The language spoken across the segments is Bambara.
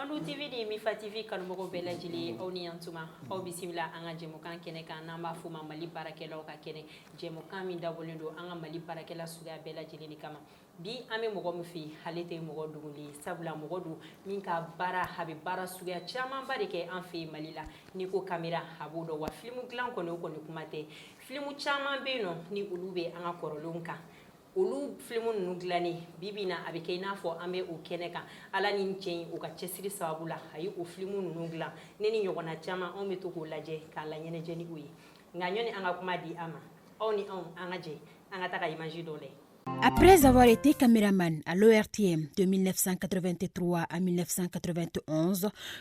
An TV de bɛ fa TV kanumɔgɔw bɛɛ lajɛlen aw ni yantuma aw bisimila an ka jɛmukan kɛnɛ kan n'an b'a fɔ ma mali baarakɛlaw ka kɛnɛ jɛmukan min dabɔlen don an ka mali baarakɛla suguya bɛɛ lajɛlen kama bi an bɛ mɔgɔ min fɛ yen ale tɛ mɔgɔ dogolen ye sabula mɔgɔ don min ka baara a bɛ baara suguya camanba de kɛ an fɛ yen mali la ni ko kamera a b'o dɔn wa filimu dilan kɔni o kɔni kuma tɛ filimu caman bɛ yen nɔ ni olu bɛ an ka kɔrɔlen kan olu filimu ninnu dilannen bi bi na a bɛ kɛ i n'a fɔ an bɛ o kɛnɛ kan ala ni cɛ in u ka cɛsiri sababu la a ye o filimu ninnu dilan ne ni ɲɔgɔnna caman anw bɛ to k'o lajɛ k'an laɲɛnajɛ ni o ye nka ɲɔni an ka kuma di a ma aw ni anw an ka jɛ an ka taga imaji dɔ lajɛ Après avoir été caméraman à l'ORTM de 1983 à 1991,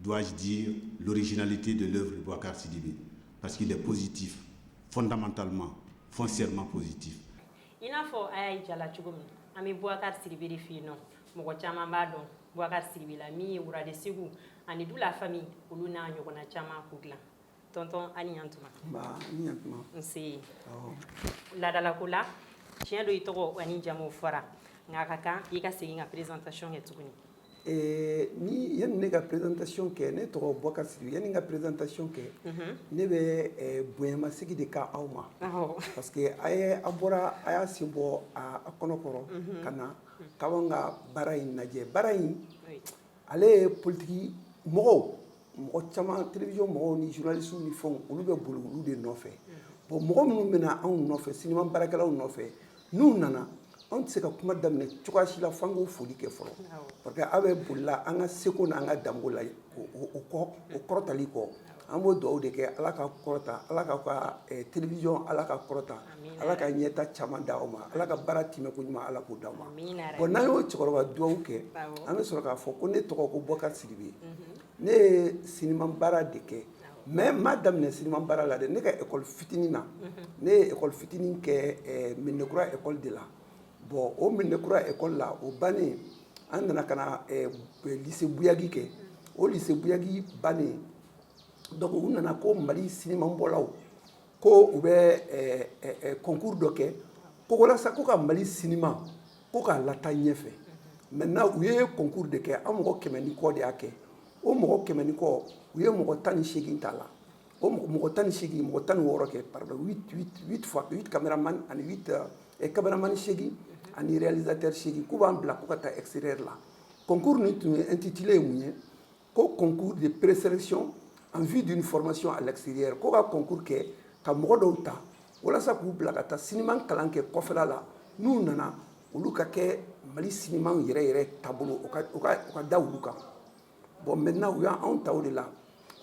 Dugawuwaji sinalite don dɔwkaridi bi pa que de psiti fɔtan tali ma fɔ sema psiti i n'a fɔ a y'a jala cogo min an bɛ bukari siri f yen nɔ mɔgɔ caman b'a dɔnwa siri la min ye wuladi segu ani du lafifami olu n'a ɲɔgɔn caman ku dilan tɔntɔn a ni yantuma nba a ni yantuma nse laadalako la tiɲɛ don i tɔgɔ ani jamu fɔra nka a ka kan i ka segin ka présentation kɛ tuguni eh, ni yanni ne ka présentation kɛ ne tɔgɔ Boubacar Sidibé yanni n ka présentation kɛ mhm. ne bɛ eh, bonyamasegin de kɛ aw ma parce que a ye a bɔra a y'a sen bɔ a kɔnɔ kɔrɔ mhm. ka na k'an ka baara in lajɛ baara in ale ye politigi mɔgɔw mɔgɔ caman télévision mɔgɔw ni journaliste ni fɛnw olu bɛ boli olu de nɔfɛ bon mɔgɔ minnu bɛ na anw nɔfɛ sinima baarakɛlaw nɔfɛ n'u nana anw tɛ se ka kuma daminɛ cogoya si la f'an k'o foli kɛ fɔlɔ parce que aw bɛ bolila an ka seko n'an ka danbe la o kɔrɔtali kɔ An b'o dugawu de kɛ ala ka kɔrɔta ala k'a ka télévision ala ka kɔrɔta ala ka ɲɛta caman di aw ma ala ka baara timɛko ɲuman ala k'o d'aw ma bon n'an y'o cɛkɔrɔba dugawu kɛ an bɛ sɔrɔ k'a fɔ ko ne tɔgɔ ko Boubacar Sidibé ne ye siniman baara de kɛ mɛ n m'a daminɛ siniman baara la dɛ ne ka ekɔli fitinin na ne ye ekɔli fitinin kɛ medinakura ekɔli de la bɔn o medinakura ekɔli la o bannen an nana ka na lise buyagi kɛ o lise buyagi bannen dɔnku u nana ko mali sinimabɔlaw ko u bɛ kɔnkuri dɔ kɛ ko walasa ko ka mali sinima ko k'a lataa ɲɛfɛ maintenant u ye kɔnkuri de kɛ an mɔgɔ kɛmɛ ni kɔ de y'a kɛ o mɔgɔ kɛmɛ ni kɔ u ye mɔgɔ tan ni seegin t'a la o mɔgɔ tan ni seegin mɔgɔ tan ni wɔɔrɔ kɛ pardon kamera e kameramani seegin ani réalisateur seegin k'u b'an bila ko ka taa extérieur la concours nin tun ye intitulé ye mun ye ko concours de présélection en vue d'une formation à l'extérieur ko ka concours kɛ ka mɔgɔ dɔw ta walasa k'u bila ka taa siniman kalan kɛ kɔfɛla la n'u nana olu ka kɛ mali sinima yɛrɛ yɛrɛ taabolo u ka da olu kan Bon maintenant u y' anw ta o de la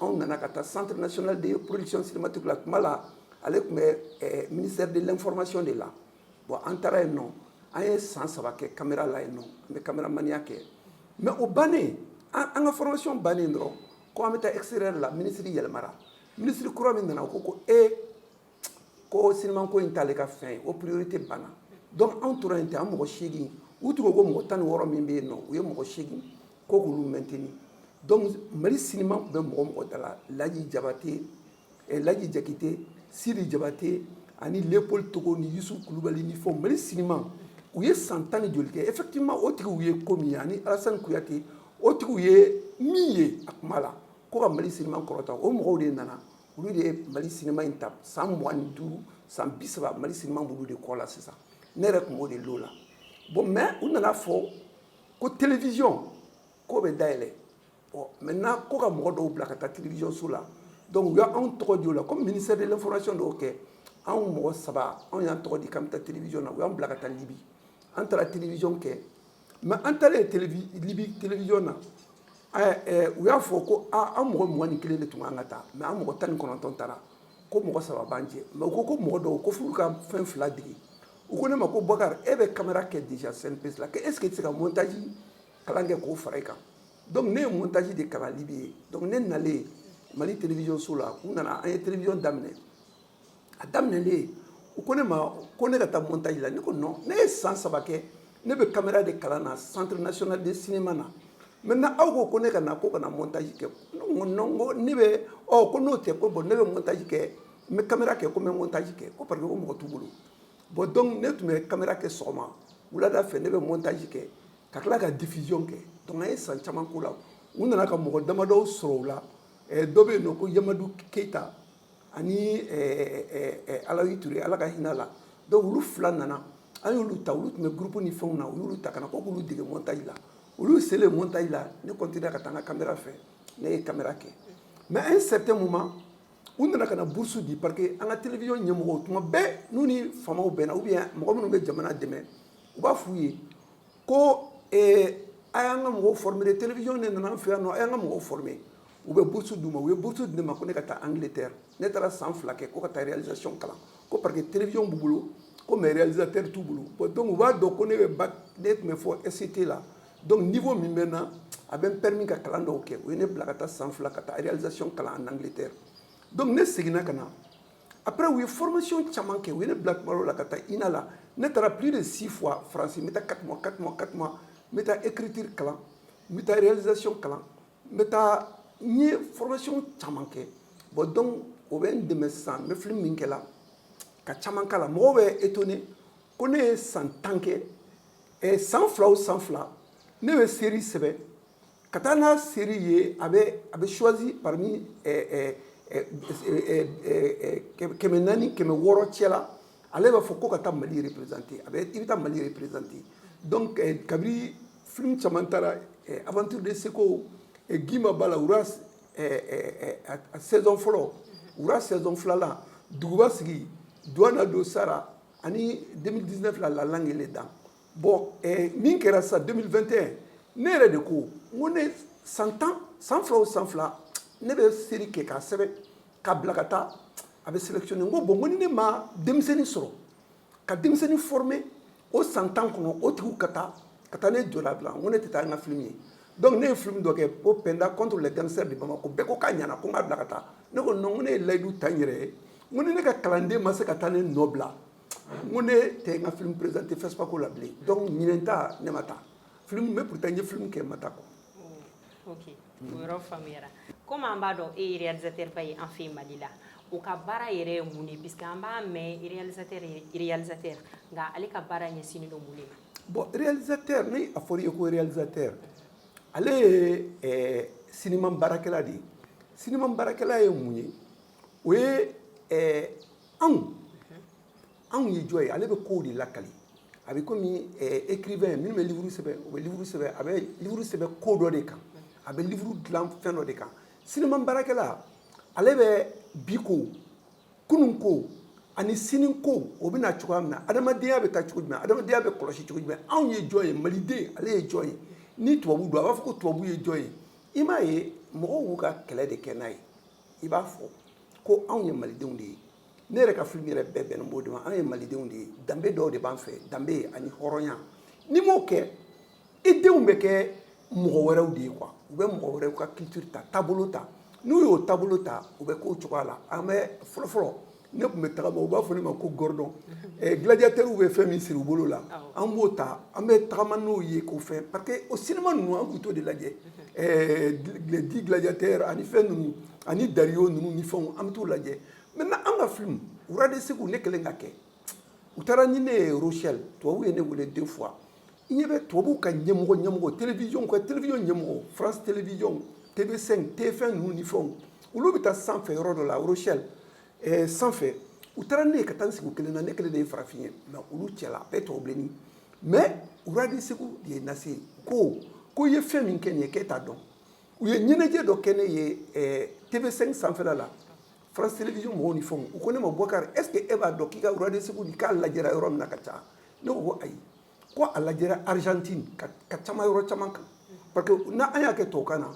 anw nana ka taa centre national de production cinématique la tuma la ale tun bɛ ministère de l'information de la bon an taara yen nɔ an ye san saba kɛ kamera la yen nɔ an bɛ kameramaniya kɛ mɛ o bannen an ka formation bannen dɔrɔn ko an bɛ taa extérieur la minisiri yɛlɛmara minisiri kura min nana o ko ko e ko siniman ko in t'ale ka fɛn ye o priorité banna donc anw tora yen ten an mɔgɔ seegin u tun ko ko mɔgɔ tan ni wɔɔrɔ min bɛ yen nɔ u ye mɔgɔ seegin ko k'olu maintenir donc mali siniman tun bɛ mɔgɔ mɔgɔ da la laji jabate eh, laji jakite sidi jabate ani leopold togo ni yusuf kulubali ni fɛnw mali siniman u ye san tan ni joli kɛ effectivement o tigiw ye ko min ye ani alasani kuyate o tigiw ye min ye a kuma la ko ka mali siniman kɔrɔta o mɔgɔw de nana Olu de ye mali sinima in ta san mugan ni duuru san bi saba mali sinima b'olu de kɔ la sisan ne yɛrɛ tun b'o de l'o la bon mɛ u nana fɔ ko television k'o bɛ dayɛlɛ bon maintenant ko ka mɔgɔ dɔw bila ka taa television so la donc u y' anw tɔgɔ di o la comme ministère de l'information don kɛ anw mɔgɔ saba anw y'an tɔgɔ di k'an bɛ taa television na u y'an bila ka taa libi an taara television kɛ mɛ an taalen libi television na u y'a fɔ ko an mɔgɔ mugan ni kelen de tun kan ka taa mɛ an mɔgɔ tan ni kɔnɔntɔn taara ko mɔgɔ saba b'an cɛ mɛ u ko ko mɔgɔ dɔw ko f'u ka fɛn fila dege u ko ne ma ko bubakari e bɛ kamera kɛ déjà CNPC la ko est-ce que i tɛ se ka montaji kalan kɛ k'o fara i kan donc ne ye montaji de kalan libi yen donc ne nalen mali television so la u nana an ye television daminɛ a daminɛlen u ko ne ma ko ne ka taa montaji la ne ko ne ye san saba kɛ ne bɛ kamera de kalan na centre national de cinéma na maintenant aw ko ko ne ka na ko ka na montaji kɛ ne bɛ ko n'o tɛ ko bon ne bɛ montaji kɛ n bɛ kamera kɛ ko n bɛ montaji kɛ ko parce que mɔgɔ t'u bolo bon donc ne tun bɛ kamera kɛ sɔgɔma wulada fɛ ne bɛ montaji kɛ ka tila ka diffusion kɛ donc an ye san caman k'o la u nana ka mɔgɔ damadɔ sɔrɔ o la dɔ bɛ yen nɔ ko yamadu keyita ani alawi ture ala ka hinɛ a la donc olu fila nana an y'olu ta olu tun bɛ groupe ni fɛnw na u y'olu ta ka na ko k'olu dege montaji la olu selen montaji la ne kɔntinera ka taa n ka kamera fɛ ne ye kamera kɛ mɛ à un certain moment u nana ka na bourse di parce que an ka television ɲɛmɔgɔw tuma bɛɛ n'u ni faamaw bɛnna ou bien mɔgɔ minnu bɛ jamana dɛmɛ u b'a f' u ye ko a y'an ka mɔgɔw former de télévision de nana an fɛ yan nɔ a y'an ka mɔgɔw former u bɛ bourse d'u ma u ye bourse di ne ma ko ne ka taa Angleterre ne taara san fila kɛ ko ka taa réalisation kalan ko parce que télévision b'u bolo ko mais réalisateur t'u bolo bon donc u b'a dɔn ko ne bɛ bac ne tun bɛ fɔ SET la donc niveau min bɛ n na a bɛ n permis ka kalan dɔw kɛ u ye ne bila ka taa san fila ka taa réalisation kalan en Angleterre donc ne seginna ka na après u ye formation caman kɛ u ye ne bila kuma dɔ la ka taa INA la ne taara plus de six fois France n bɛ taa quatre mois quatre mois quatre mois n bɛ taa écriture kalan n bɛ taa réalisation kalan n bɛ taa n ye formation caman kɛ bon donc o bɛ n dɛmɛ sisan n bɛ film min kɛla ka caman k'a la mɔgɔw bɛ étonné ko ne ye san tan kɛ san fila o san fila ne bɛ série sɛbɛn ka taa n'a série ye a bɛ a bɛ choisi parmi kɛmɛ naani kɛmɛ wɔɔrɔ cɛ la ale b'a fɔ ko ka taa Mali représenter a bɛ i bɛ taa Mali représenter donc kabiri film caman taara Aventures de Séko gima b'a la Rois saison fɔlɔ Rois saison filanan duguba sigi duwa na don sara ani 2019 la la langue et les dents bon min kɛra sisan 2021 ne yɛrɛ de ko n ko ne san tan san fila o san fila ne bɛ série kɛ k'a sɛbɛn k'a bila ka taa a bɛ sélectionné n ko bon n ko ni ne ma denmisɛnnin sɔrɔ ka denmisɛnnin former o san tan kɔnɔ o tigiw ka taa ka taa ne jɔda bila n ko ne tɛ taa n ka film ye donc ne ye film dɔ kɛ ko Penda contre les gangsters de Bamako bɛɛ ko k'a ɲana ko n k'a bila ka taa ne ko non n ko ne ye layidu ta n yɛrɛ ye n ko ni ne ka kalanden ma se ka taa ne nɔ bila n ko ne tɛ n ka film présenter FESPACO la bilen donc ɲinan ta ne ma taa film mais pourtant n ye film kɛ n ma taa quoi oh, ok o yɔrɔ faamuyara comme an b'a dɔn e ye réalisateur ba ye an fɛ yen Mali la o ka baara yɛrɛ ye mun ye puisque an b'a mɛn réalisateur réalisateur nka ale ka baara ɲɛsinnen don mun de ma bon réalisateur ni a fɔra i ye ko réalisateur ale ye eh, sinima baarakɛla de ye sinima baarakɛla ye mun ye o ye eh, anw anw ye jɔn ye ale bɛ kow de lakali a bɛ komi écrivain eh, minnu bɛ livre sɛbɛn u bɛ livre sɛbɛn a bɛ livre sɛbɛn ko dɔ de kan a bɛ livre dilan fɛn dɔ de kan sinima baarakɛla ale bɛ bi ko kunun ko ani sini ko o bɛ na cogoya min na adamadenya bɛ taa cogo jumɛn adamadenya bɛ kɔlɔsi cogo jumɛn anw ye jɔn ye maliden ale ye jɔn ye ni tubabu don a b'a fɔ ko tubabu ye jɔn ye i m'a ye mɔgɔw y'u ka kɛlɛ de kɛ n'a ye i b'a fɔ ko anw ye malidenw de ye ne yɛrɛ ka film yɛrɛ bɛɛ bɛnnen b'o de ma anw ye malidenw de ye danbe dɔw de b'an fɛ danbe ani hɔrɔnya n'i m'o kɛ i denw bɛ kɛ mɔgɔ wɛrɛw de ye quoi u bɛ mɔgɔ wɛrɛw ka culture ta taabolo ta n'u y'o taabolo ta u bɛ k'o cogoya la an bɛ fɔlɔfɔlɔ ne tun bɛ tagama u b'a fɔ ne ma ko Gordon eh, gladiateurs bɛ fɛn min siri u bolo la an b'o ta an bɛ tagama n'o ye k'o fɛn parce que o sinima ninnu an tun t'o de lajɛ eh, dix gladiateurs ani fɛn ninnu ani Dario ninnu ni fɛnw an bɛ t'o lajɛ maintenant an ka film Rois de Ségou ne kelen ka kɛ u taara ni ne ye rochelle tubabu ye ne wele deux fois i ɲɛ bɛ tubabuw ka ɲɛmɔgɔ ɲɛmɔgɔ télévision ka télévision ɲɛmɔgɔ France télévision TV5 TF1 ninnu ni fɛnw olu bɛ taa sanfɛ yɔrɔ dɔ la Rochelle ɛɛ eh, sanfɛ u taara ne ye ka taa n sigi u kelen na ne kelen de ye farafin ye mais olu cɛla a bɛɛ tubabu bilenni mais Rois de Ségou de ye n nase yen ko ko i ye fɛn min kɛ nin ye k'e t'a dɔn u ye ɲɛnajɛ dɔ kɛ ne ye ɛɛ eh, TV5 sanfɛla la France télévision mɔgɔw ni fɛnw u ko ne ma Boubacar est-ce que e b'a dɔn k'i ka Rois de Ségou k'a lajɛra yɔrɔ min na ka ca ne ko ayi ko a lajɛra Argentine ka ca yɔrɔ caman kan parce que n'an y'a kɛ tubabukan na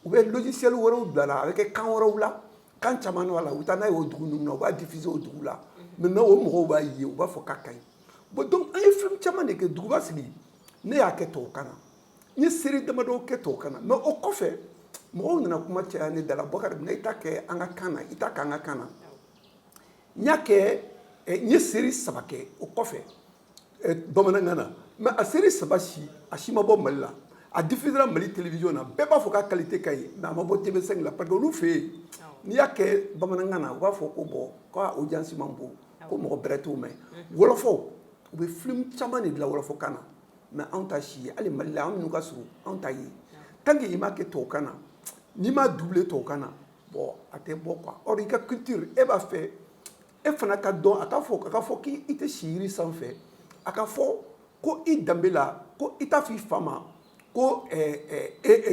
u bɛ logiciel wɛrɛw bila la a bɛ kɛ kan wɛrɛw la kan caman b'a la u bɛ taa n'a y'o dugu ninnu na u b'a diffuser o dugu la maintenant o mɔgɔw b'a ye u b'a fɔ k'a ka ɲi bon donc an ye film caman de kɛ duguba sigi ne y'a kɛ tubabukan na n ye série damadɔ kɛ tubabukan na mais o kɔfɛ mɔgɔw nana kuma caya ne da la Boubacar i t'a kɛ an ka kan na i t'a kɛ an ka kan na n y'a kɛ n ye série saba kɛ o kɔfɛ bamanankan na mais a série saba si a si ma bɔ mali la a diffusera mali télévision na bɛɛ b'a fɔ k'a qualité ka ɲi mais a ma bɔ tv5 la parce que olu fɛ yen n'i y'a kɛ bamanankan na u b'a fɔ ko bon k'a audience man bon ko mɔgɔ bɛrɛ t'o mɛn wɔlɔfɔw u bɛ film caman de dilan wɔlɔfɔkan na mais anw ta si ye hali mali la anw minnu ka surun anw ta ye tant qu'i m'a kɛ tubabukan na n'i m'a doubler tubabukan na bon a tɛ bɔ quoi or i ka culture e b'a fɛ e fana ka dɔn a ka fɔ a ka fɔ k'i tɛ si yiri sanfɛ a ka fɔ ko i danbe la ko i t'a fɔ i fa ma ko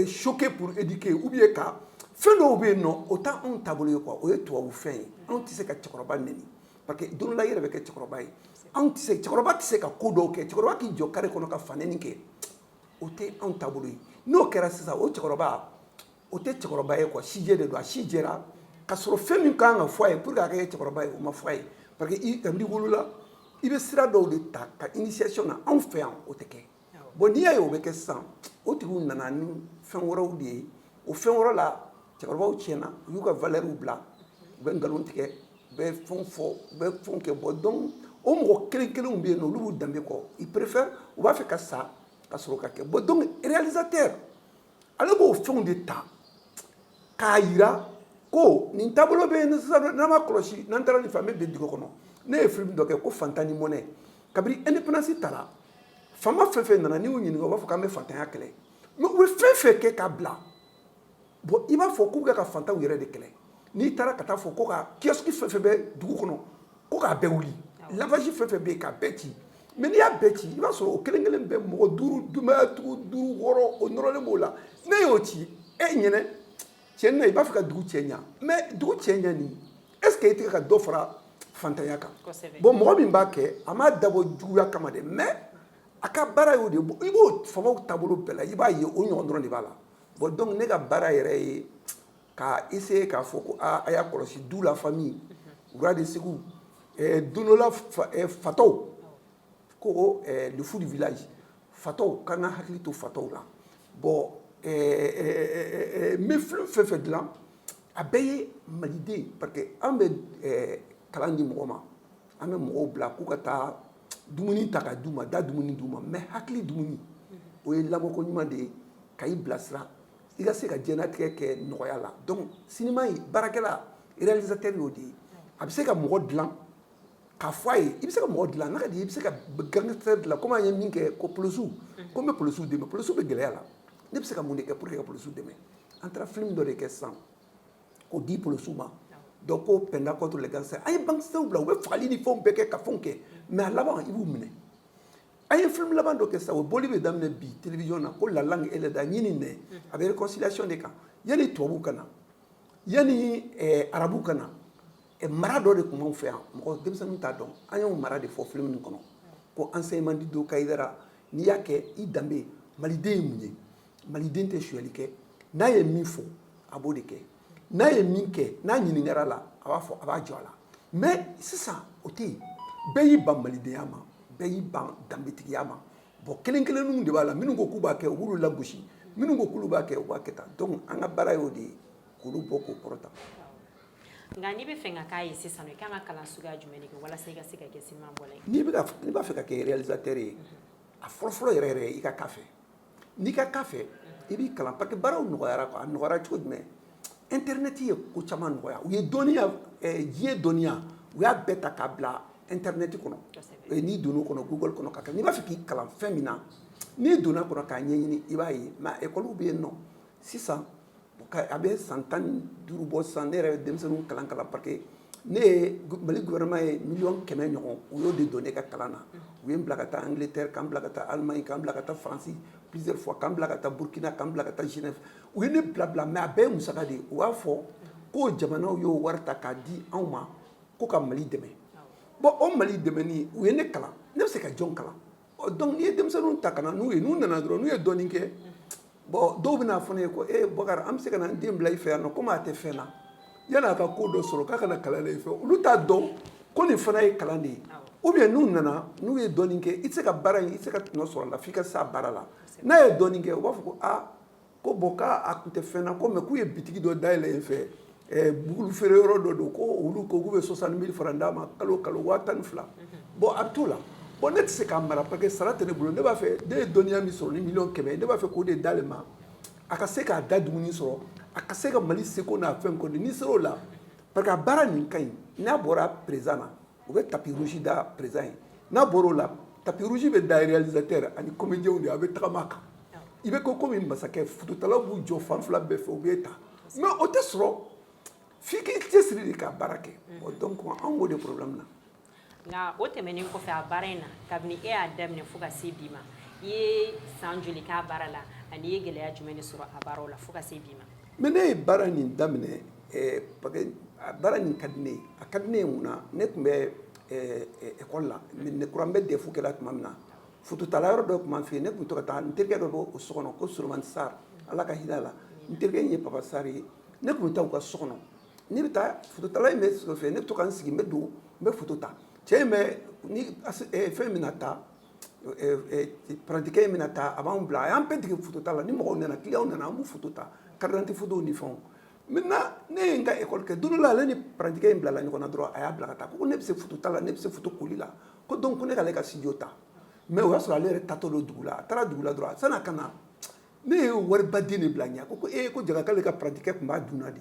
choquer pour éduquer ou bien ka fɛn dɔw bɛ yen nɔ o tɛ anw taabolo ye quoi o ye tubabu fɛn ye anw tɛ se ka cɛkɔrɔba n Parce que don dɔ la i yɛrɛ bɛ kɛ cɛkɔrɔba ye anw tɛ se cɛkɔrɔba tɛ se ka ko dɔw kɛ cɛkɔrɔba k'i jɔ carré kɔnɔ ka fanɛni kɛ o tɛ anw taabolo ye n'o kɛra sisan o cɛkɔrɔba o tɛ cɛkɔrɔba ye quoi sijɛ de don a si jɛra ka sɔrɔ fɛn min kan ka fɔ a ye pour que a ka kɛ cɛkɔrɔba ye o ma fɔ a ye parce que kabini i wolola i bɛ sira dɔw de ta ka initiation na anw fɛ yan o tɛ kɛ Bon n'i y'a ye o bɛ kɛ sisan o tigiw nana ni fɛn wɛrɛw de ye o fɛn wɛrɛ la cɛkɔrɔbaw tiɲɛna u y'u ka valeurs bila u bɛ nkalon tigɛ u bɛ fɛn fɔ u bɛ fɛn kɛ bon donc o mɔgɔ kelen kelenw bɛ yen nɔ olu b'u danbe kɔ ils préfèrent u b'a fɛ ka sa ka sɔrɔ ka kɛ bon donc réalisateur ale b'o fɛnw de ta k'a yira ko nin taabolo bɛ yen sisan n'an ma kɔlɔsi n'an taara nin fɛ an bɛ bin dingɛ kɔnɔ ne ye film dɔ kɛ ko fantan ni mɔnɛ kabini indépendance tara fama fɛn fɛn nana n'i y'u ɲininka u b'a fɔ k'an bɛ fantanya kɛlɛ mais u bɛ fɛn fɛn kɛ k'a bila bon i b'a fɔ k'u bɛ ka fantanw yɛrɛ de kɛlɛ n'i taara ka taa fɔ ko ka kiyɔsiki fɛn fɛn bɛ dugu kɔnɔ ko k'a bɛɛ wuli lavage fɛn fɛn bɛ yen k'a bɛɛ ci mais n'i y'a bɛɛ ci i b'a sɔrɔ o kelen kelen bɛ mɔgɔ duuru denbayatigi duuru wɔɔrɔ o nɔrɔlen b'o la n'e y'o ci e ɲɛ na tiɲɛ na i b'a fɛ ka dugu cɛɲa mais dugu cɛɲa nin est ce que i tɛ ka dɔ fara fantanya kan bon mɔgɔ min b'a kɛ a m'a dabɔ juguya kama dɛ mais a ka baara y'o de i b'o famaw taabolo bɛɛ la i b'a ye o ɲɔgɔn dɔrɔn de b'a la bon donc ne ka baara yɛrɛ ye ka essayer k'a fɔ ko aaa a y'a kɔlɔsi du la famille rois de segu don dɔ la fatɔw ko le fou du village fatɔw k'an ka hakili to fatɔw la bon n bɛ film fɛn fɛn dilan a bɛɛ ye maliden parce que an bɛ kalan di mɔgɔ ma an bɛ mɔgɔw bila k'u ka taa dumuni ta k'a d'u ma da dumuni di u ma mais hakili dumuni o ye lamɔko ɲuman de ye ka i bilasira i ka se ka diɲɛlatigɛ kɛ nɔgɔya la donc sinima in baarakɛla réalisateur y'o de ye a bɛ se ka mɔgɔ dilan k'a fɔ a ye i bɛ se ka mɔgɔ dilan n'a ka di i bɛ se ka gangster dilan komi an ye min kɛ ko polosiw ko n bɛ polosiw dɛmɛ polosiw bɛ gɛlɛya la ne bɛ se ka mun de kɛ pour que ka polosiw dɛmɛ an taara film dɔ de kɛ sisan k'o di polosiw ma dɔ ko penda contre les gangsters an ye gangsters bila u bɛ fagali ni fɛnw bɛɛ kɛ ka fɛnw kɛ mais a laban i b'u minɛ an ye film laban dɔ kɛ sa o boli bɛ daminɛ bi télévision na ko la langue et les dents ɲin ni nɛn mhm. a bɛ réconciliation de kan yanni tubabu ka na yanni eh, arabu ka na eh, mara dɔ de tun b'anw fɛ yan mɔgɔ denmisɛnninw t'a dɔn an y'o mara de fɔ film nin kɔnɔ ko enseignement du do kayidara n'i y'a kɛ i danbe maliden ye mun ye maliden tɛ sonyali kɛ n'a ye min fɔ a b'o de kɛ n'a ye min kɛ n'a ɲininkara la a b'a fɔ a b'a jɔ a la mais sisan o tɛ yen bɛɛ y'i ban malidenya ma bɛɛ y'i ban danbetigiya ma bon kelen kelenninw de b'a la minnu ko k'u b'a kɛ u b'olu lagosi minnu ko k'olu b'a kɛ u b'a kɛ tan donc an ka baara y'o de ye k'olu bɔ k'o kɔrɔta nka n'i b'a fɛ ka k'a ye sisan i kan ka kalan suguya jumɛn de kɛ walasa i ka se ka kɛ sinima bɔla ye n'i b'a fɛ ka kɛ réalisateur ye a fɔlɔfɔlɔ yɛrɛ yɛrɛ i ka k'a fɛ n'i ka k'a fɛ i b'i kalan parce que baaraw nɔgɔyara a nɔgɔyara cogo jumɛn internet ye ko caman nɔgɔya u ye dɔnniya diɲɛ dɔnniya u y'a bɛɛ ta k'a bila internet kɔnɔ n'i donn'o kɔnɔ google kɔnɔ ka n'i b'a fɛ k'i kalan fɛn min na n'i donna kɔnɔ k'a ɲɛɲini i b'a ye mais école bɛ yen nɔ sisan A bɛ san tan ni duuru bɔ sisan ne yɛrɛ bɛ denmisɛnninw kalan kalan parce que ne ye mali gouvernement ye miliyɔn kɛmɛ ɲɔgɔn u y'o de don ne ka kalan na u ye n bila ka taa Angleterre ka n bila ka taa Allemagne ka n bila ka taa faransi plusieurs fois ka n bila ka taa burukina ka n bila ka taa Genève u ye ne bila bila mɛ a bɛɛ ye musaka de ye u b'a fɔ ko jamanaw y'o wari ta k'a di anw ma ko ka mali dɛmɛ bɔn o mali dɛmɛni u ye ne kalan ne bɛ se ka jɔn kalan ɔ donc n'i ye denmisɛnninw ta ka na n'u ye n'u nana dɔrɔn n'u ye dɔɔnin kɛ bɔn dɔw bɛna fɔ ne ye ko e bakari an bɛ se ka na n den bila i fɛ yan nɔ komi a tɛ fɛn na yan'a ka ko dɔ sɔrɔ k'a ka na kalan la i fɛ olu t'a dɔn ko nin fana ye kalan de ye ou bien n'u nana n'u ye dɔɔnin kɛ i tɛ se ka baara in i tɛ se ka tɔnɔ sɔrɔ a la f'i ka s'a baara la n'a ye dɔɔnin kɛ u b'a fɔ ko aa ko bɔn k'a a tun tɛ fɛn na ko mɛ k'u ye bitigi dɔ dayɛlɛ yen fɛ bugukulu feere yɔrɔ dɔ don ko olu ko k'u bɛ soixante mille francs d'a ma kalo kalo waa tan ni fila bɔn a bɛ t'o la bɔn ne tɛ se k'a mara parce que sara tɛ ne bolo ne b'a fɛ ne ye dɔnniya min sɔrɔ ni miliyɔn kɛmɛ ne b'a fɛ k'o de d'ale ma a ka se k'a da dumuni sɔrɔ a ka se ka mali seko n'a fɛn kɔni n'i sera o la parce que a baara nin ka ɲi n'a bɔra président na u bɛ tapis rouge da président ye n'a bɔra o la tapis rouge bɛ da réalisateur ani comédienw de a bɛ tagama a kan i bɛ ko kɔmi masakɛ fototalaw b'u jɔ fan fila bɛɛ fɛ u b'e ta mɛ o tɛ sɔrɔ f'i k'i cɛsiri de ka baara kɛ donc an b'o de problème na nka o tɛmɛnen kɔfɛ a baara in na kabini e y'a daminɛ fo ka se bi ma i ye san joli k'a baara la ani i ye gɛlɛya jumɛn de sɔrɔ a baara la fo ka se bi ma Mɛ ne ye baara nin daminɛ a baara nin ka di ne ye a ka di ne ye mun na ne tun bɛ ekɔli la ne kun bɛ DEF kɛ la tuma min na fototala yɔrɔ dɔ tun b'an fɛ yen ne tun bɛ to ka taa n terikɛ dɔ b'o so kɔnɔ ko Solomani Sarr ala ka hinɛ a la n terikɛ in ye Papa Sarr ye ne tun bɛ taa u ka so kɔnɔ ne bɛ taa fototala in bɛ so fɛ ne bɛ to ka n sigi n bɛ don n bɛ foto ta cɛ in bɛ fɛn min na ta parantikɛ in bɛna taa a b'an bila a y'an bɛɛ dege foto ta la ni mɔgɔw nana clientw nana an b'u ta carte d'identité foto ni fɛnw maintenant ne ye n ka ekɔli kɛ don dɔ la ale ni parantikɛ in bilala ɲɔgɔn na dɔrɔn a y'a bila ka taa ko ne bɛ se foto ta la ne bɛ se foto koli la ko donc ko ne k'ale ka studio ta mɛ o y'a sɔrɔ ale yɛrɛ tatɔ don dugu la a taara dugu la dɔrɔn san'a ka na ne ye wari ba den de bila a ɲɛ ko e ko jaa k'ale ka parantikɛ tun b'a dun de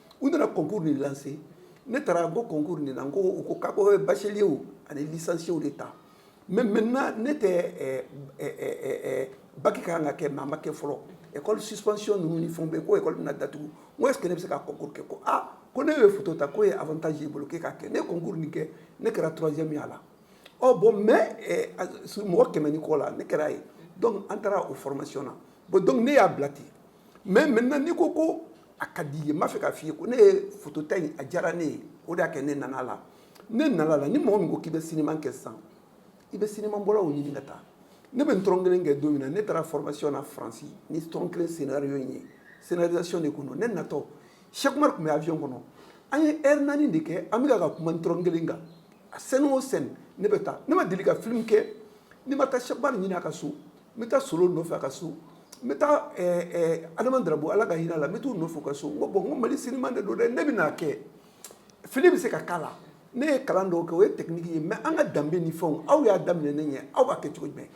u nana kokurun de lase ne taara ko kokurun de la ko u ko ka bɔ basisiww ani misansiww de ta mɛ mɛ ne tɛ baki ka kan ka kɛ mɛ ma kɛ fɔlɔ ekɔ sisisiy ninnu ni fɛn bɛ k' na datugu n e kɛlen bɛ se ka ko kɛ ko aa ko ne ye futa ta k'o ye a taa y'i bolo kɛ ka kɛ ne kokurun nin kɛ ne kɛra turajɛ min a la ɔ bɔn mɛ mɔgɔ kɛmɛ ni kɔ la ne kɛra' ye an taara o fɔrɔmasiy na bɔn dɔnku ne y'a bila ten mais maintenant n'i ko ko a ka di ye n b'a fɛ k'a f'i ye ko ne ye fotota in a diyara ne ye o de y'a kɛ ne nana la ne nana la ni mɔgɔ min ko k'i bɛ sinima kɛ sisan i bɛ sinima bɔlaw ɲini ka taa ne bɛ n tɔrɔn kelen kɛ don min na ne taara formation na faransi ni tɔrɔn kelen scénario in ye scénarisation de kun don ne natɔ Cheikh Umar tun bɛ avion kɔnɔ an ye heure naani de kɛ an bɛ ka kuma tɔrɔn kelen kan a scène o scène ne bɛ taa ne ma deli ka film kɛ ne ma taa Cheikh Umar ɲini a ka so n bɛ taa Solo nɔfɛ a ka so n bɛ taa Adama Darabo ala ka hinɛ a la n bɛ t'u nɔfɛ u ka so n ko bon n ko Mali sinima de don dɛ ne bɛ n'a kɛ fili bɛ se ka k'a la ne ye kalan dɔw kɛ o ye tɛkiniki ye mais an ka danbe ni fɛnw aw y'a daminɛ ne ɲɛ aw b'a kɛ cogo jumɛn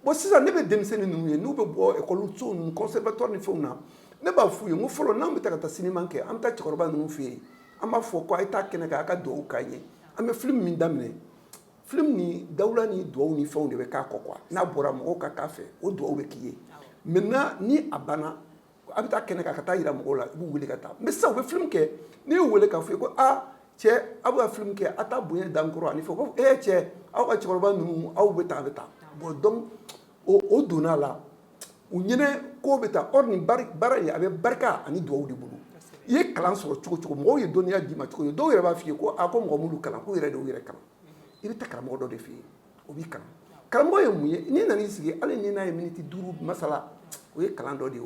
bon sisan ne bɛ denmisɛnnin ninnu ye n'u bɛ bɔ ekɔliso ninnu conservatoire ni fɛnw na ne b'a f'u ye n ko fɔlɔ n'an bɛ taa ka taa sinima kɛ an bɛ taa cɛkɔrɔba ninnu fɛ yen an b'a fɔ ko a ye taa kɛnɛ kan a ka dugawu k'an ye an bɛ film min daminɛ Film ni dawula ni dugawu ni fɛnw de bɛ k'a kɔ quoi n'a bɔra mɔgɔw ka k'a fɛ o dugawu bɛ k'i ye maintenant ni a banna a bɛ taa kɛnɛ kan ka taa yira mɔgɔw la i b'u weele ka taa mais sisan u bɛ film kɛ n'i y'u weele k'a f'u ye ko aa cɛ aw bɛ ka film kɛ aw taa bonya dan kɔrɔ ani fɔ ko e cɛ aw ka cɛkɔrɔba ninnu aw bɛ taa a bɛ taa bon donc o donna a la u ɲinɛ ko bɛ taa nin baara in a bɛ barika ani dugawu de bolo i ye kalan sɔrɔ cogo cogo mɔgɔw ye dɔnniya d'i ma cogo cogo dɔw yɛrɛ b'a f'i ye ko a ko mɔgɔ m'u kalan k'u yɛrɛ de y'u yɛrɛ kalan i bɛ taa karamɔgɔ dɔ de fɛ yen o b'i kalan karamɔgɔ ye mun ye n'i nana i sigi hali ni n'a ye miniti duuru masala o ye kalan dɔ de ye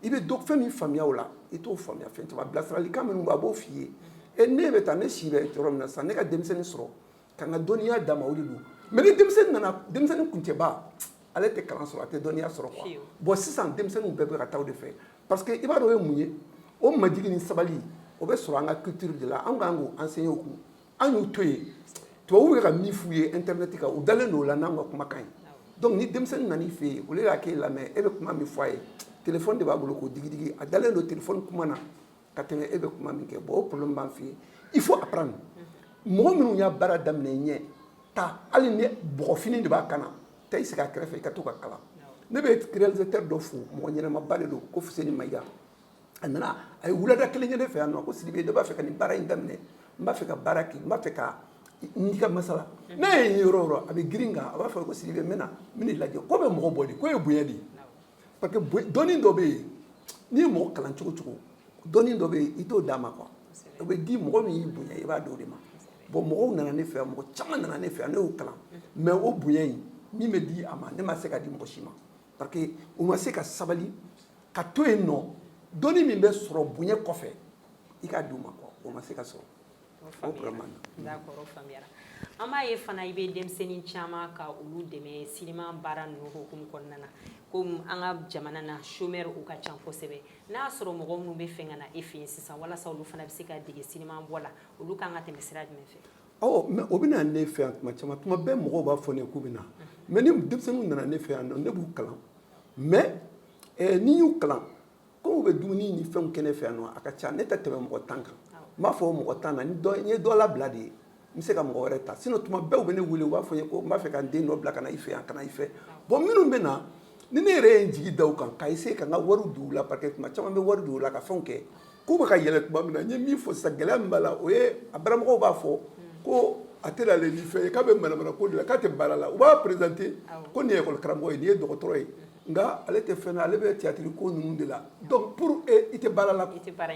i bɛ fɛn min faamuya o la i t'o faamuya fɛn caman bilasiralikan min a b'o f'i ye ne bɛ taa ne si bɛ yɔrɔ min na sisan ne ka denmisɛnnin sɔrɔ Ka n ka dɔnniya d'a ma o de don mais ni denmisɛnnin nana denmisɛnnin kuncɛba ale tɛ kalan sɔrɔ a tɛ dɔnniya sɔrɔ bon sisan denmisɛnnin bɛɛ bɛ ka taa o de fɛ parce que i b'a dɔn o ye mun ye o majigin ni sabali o bɛ sɔrɔ an ka culture de la an kan k'o enseigner u kun an y'u to yen tubabuw bɛ ka min f'u ye internet kan u dalen don o la n'an ka kumakan ye ni denmisɛnnin nan'i fɛ yen o y'a k'e lamɛn e bɛ kuma min fɔ a ye téléphone de b'a bolo k'o digi a dalen don téléphone kuma na ka tɛmɛ e bɛ kuma min kɛ bon o problème b'an fɛ yen il faut apprendre mɔgɔ minnu y'a baara daminɛ i ɲɛ taa hali ni bɔgɔfini de b'a kan na taa i sigi a kɛrɛfɛ i ka to ka kalan ne bɛ réalisateur dɔ fo mɔgɔ ɲɛnamaba de don ko Fuseni Mayiga a nana a ye wulada kelen kɛ ne fɛ yan nɔ ko Sidibe ne b'a fɛ ka nin baara in daminɛ n b'a fɛ ka baara kɛ n b'a fɛ ka n'i ka masala n'a ye yɔrɔ o yɔrɔ a bɛ girin kan a b'a fɔ ko Sidibe n bɛna n bɛna i lajɛ ko bɛ mɔgɔ bɔ de ko ye bonya de ye parce que dɔnni dɔ bɛ yen n'i ye mɔgɔ kalan cogo cogo dɔnni dɔ bɛ yen i t'o d'a ma quoi o bɛ di mɔgɔ min y'i bonya i b'a d'o de ma bon mɔgɔw nana ne fɛ yan mɔgɔ caman nana ne fɛ yan ne y'u kalan mais o bonya in min bɛ di a ma ne ma se k'a di mɔgɔ si ma parce que u ma se ka sabali ka to yen nɔ dɔnni min bɛ sɔrɔ bonya kɔfɛ i k'a d'u ma quoi o ma se ka sɔrɔ An b'a ye fana i bɛ denmisɛnnin caman ka olu dɛmɛ sinima baara ninnu hukumu kɔnɔna na komi an ka jamana na chômeur u ka ca kosɛbɛ n'a y'a sɔrɔ mɔgɔ minnu bɛ fɛ ka na e fɛ yen sisan walasa olu fana bɛ se ka dege sinima bɔ la olu ka kan ka tɛmɛ sira jumɛn fɛ mais o bɛ na ne fɛ yan tuma caman tuma bɛɛ mɔgɔw b'a fɔ k'u bɛ na mais ni denmisɛnninw nana ne fɛ yan donc ne b'u kalan mais n'i y'u kalan Komi u bɛ dumuni ni fɛnw kɛ ne fɛ yan a ka ca ne tɛ tɛmɛ mɔgɔ tan kan n b'a fɔ mɔgɔ tan na n ye dɔ labila de ye n bɛ se ka mɔgɔ wɛrɛ ta sinon tuma bɛɛ u bɛ ne wele u b'a fɔ n ye ko n b'a fɛ ka n den dɔ bila ka na i fɛ yan ka na i fɛ bon minnu bɛ na ni ne yɛrɛ ye n jigi da u kan k'a essayer ka n ka wari don u la parce que tuma caman n bɛ wari don u la ka fɛnw kɛ k'u bɛ ka yɛlɛ tuma min na n ye min fɔ sisan gɛlɛya min b'a la o ye a baramɔgɔw b'a fɔ ko a tɛ ale fɛ k'a bɛ manamana ko de la k'a tɛ baara la u b'a présenter ko nin école karamɔgɔ ye nin ye dɔgɔtɔrɔ ye nka ale tɛ fɛn na ale bɛ théâtre ko ninnu de la donc pour i tɛ baara la i tɛ baara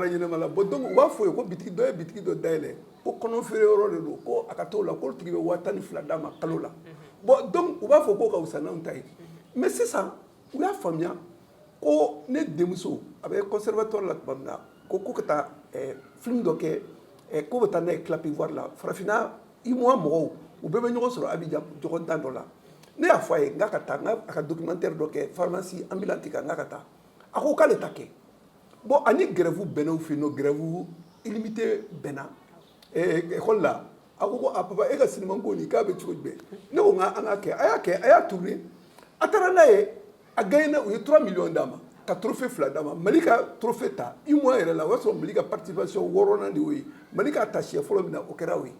ɲɛnama la bon donc u b'a fɔ a ye ko bitiki dɔ ye bitiki dɔ da yɛlɛ ko kɔnɔ feere yɔrɔ de don ko a ka taa o la k'o tigi bɛ waa tan ni fila d'a ma kalo la bon donc u b'a fɔ k'o ka fisa n'anw ta ye mais sisan u y'a faamuya ko ne denmuso a bɛ conservatoire la tuma min na ko ko ka taa film dɔ kɛ k'u bɛ taa n'a ye Clap Ivoire la farafinna UMOA mɔgɔw u bɛɛ bɛ ɲɔgɔn sɔrɔ Abidjan ɲɔgɔndan dɔ la ne y'a fɔ a ye n k'a ka taa a ka documentaire dɔ kɛ pharmacie ambulante kan n k'a ka taa a ko k'ale t'a kɛ bon ani grève bɛnna u fɛ yen nɔ grève illimitée bɛnna école la a ko a papa e ka sinima ko nin k'a bɛ cogo jumɛn ne ko n k'an k'a kɛ a y'a kɛ a y'a tourner a taara n'a ye a gagné u ye 3 millions d'a ma ka trophée fila d'a ma Mali ka trophée ta UMOA yɛrɛ la o y'a sɔrɔ Mali ka participation wɔɔrɔnan de y'o ye Mali k'a ta siɲɛ fɔlɔ min na o kɛra o ye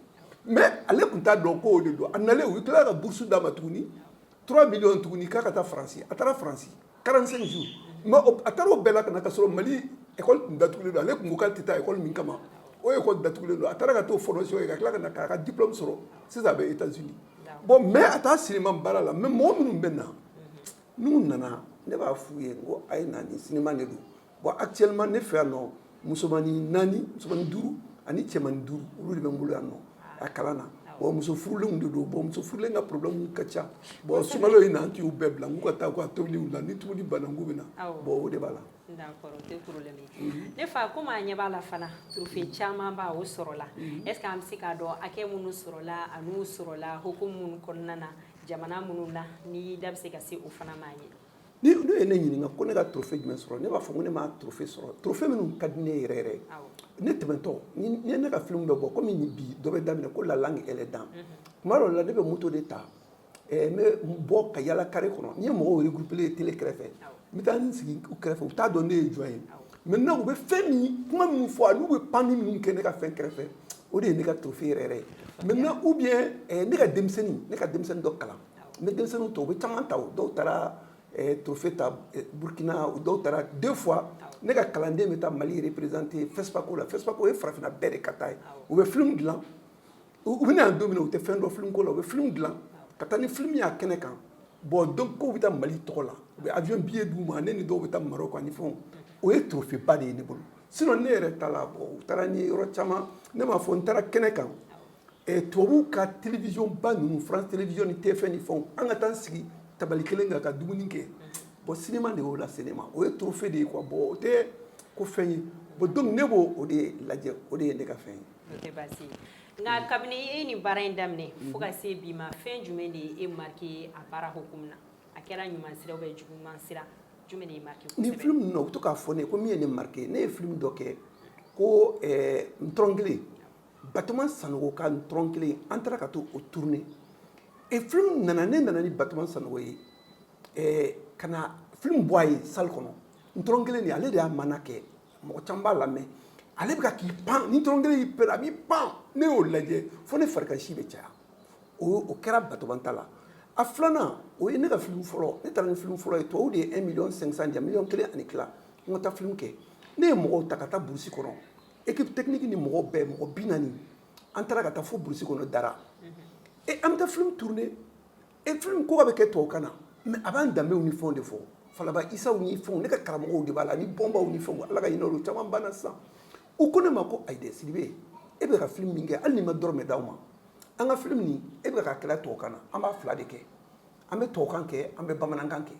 mais ale tun t'a dɔn ko o de don a nalen u tilala ka bourse d'a ma tuguni 3 millions tuguni k'a ka taa France a taara France 45 jours mais a taara o bɛɛ la ka na ka sɔrɔ Mali école tun datugulen don ale tun ko k'ale tɛ taa école min kama o école datugulen don a taara ka t'o formation kɛ ka tila ka na k'a ka diplôme sɔrɔ sisan a bɛ Etats Unis bon mais a t'a sinima baara la mais mɔgɔ minnu bɛ na n'u nana ne b'a f'u ye ko a ye na ni sinima de don bon actuellement ne fɛ yan nɔ musomannin naani musomannin duuru ani cɛmannin duuru olu de bɛ n bolo yan nɔ a kalan na bon muso furulenw de don bon muso furulen ka problème ka ca bon sunkalo in na an t'u bɛɛ bila k'u ka taa u ka tobili la ni tobili banna u bɛ na bon o de b'a la Ne fa komi a ɲɛ b'a la fana trophée caman b' o sɔrɔla est-ce que an bɛ se k'a dɔn hakɛ minnu sɔrɔla an'u sɔrɔla hukumu minnu kɔnɔna na jamana minnu na ni da bɛ se ka se o fana ma ye ni olu ye ne ɲininka ko ne ka trophée jumɛn sɔrɔ ne b'a fɔ ko ne ma trophée sɔrɔ trophée minnu ka di ne yɛrɛ yɛrɛ ne tɛmɛtɔ ye ne ka film bɛ bɔ kɔmi bi dɔ bɛ daminɛ ko la langue et les dents tuma dɔw la ne bɛ moto de ta Ɛɛ n bɛ bɔ ka yala carré kɔnɔ ni n ye mɔgɔw regroupélen ye télé kɛrɛfɛ n bɛ taa n sigi u kɛrɛfɛ u t'a dɔn ne ye jɔn ye maintenant u bɛ fɛn min kuma min fɔ a n'u bɛ panni min kɛ ne ka fɛn kɛrɛfɛ o de ye ne ka trophée yɛrɛ ye maintenant ou bien ne ka denmisɛnnin ne ka denmisɛnnin dɔ kalan n bɛ denmisɛnninw ta u bɛ caman ta dɔw taara trophée ta burukina dɔw taara des fois ne ka kalanden bɛ taa mali représenter fespaco la fespaco ye farafinna bɛɛ de ka taa ye u bɛ film dilan u bɛna don min na u tɛ fɛn dɔn film ko la u bɛ film dilan ka taa ni film y'a kɛnɛ kan bon donc u bɛ taa mali tɔgɔ la u bɛ avion billet d'u ma ne ni dɔw bɛ taa maroc ani fɛnw o ye trophée ba de ye ne bolo sinon ne yɛrɛ ta la bon u taara ni yɔrɔ caman ne m'a fɔ n taara kɛnɛ kan eh, tubabuw ka télévision ba ninnu france télévision ni tf1 ni fɛnw an ka taa n sigi tabali kelen kan ka dumuni kɛ bon cinéma de y'o lase ne ma o ye trophée de ye quoi bon o tɛ ko fɛn ye bon donc ne b'o o de lajɛ o de ye ne ka fɛn ye Nka kabini e ni baara in daminɛ fo ka se bi ma fɛn jumɛn de ye e marqué a baara hukumu na a kɛra ɲuman sira ou bien juguman sira jumɛn de y'i marqué kosɛbɛ ni film ninnu u bɛ to k'a fɔ ne ye ko min ye ne marqué ne ye film dɔ kɛ ko ntɔrɔn kelen batoma sanogo ka ntɔrɔn kelen an taara ka taa o tourner et film nana ne nana ni batoma sanogo ye ka na film bɔ a ye salle kɔnɔ ntɔrɔn kelen de ale de y'a maana kɛ mɔgɔ caman b'a lamɛn ale bɛ k'i pan ni ntɔrɔn kelen y'i pere a b'i pan ne y'o lajɛ fo ne farikansi bɛ caya o o kɛra batoma ta la a filanan o ye ne ka filimu fɔlɔ ne taara ni filimu fɔlɔ ye tubabu de ye 1 million 500 di yan miliyɔn kelen ani tila n ka taa filimu kɛ ne ye mɔgɔw ta ka taa burusi kɔnɔ équipe technique ni mɔgɔw bɛɛ mɔgɔ bi naani an taara ka taa fo burusi kɔnɔ dara et an bɛ taa filimu tourner Et film ko k'a bɛ kɛ tubabukan na mais a b'an danbew ni fɛnw de fɔ falaba isaw ni fɛnw ne ka karamɔgɔw de b'a la ni bɔnbaw ni fɛnw ala ka hinɛ olu caman banna sisan u ko ne ma ko ayi dɛ sidibe e bɛ ka film min kɛ hali n'i ma dɔrɔmɛ d'an ma an ka film min e bɛ ka kɛlɛ tubabukan na an b'a fila de kɛ an bɛ tubabukan kɛ an bɛ bamanankan kɛ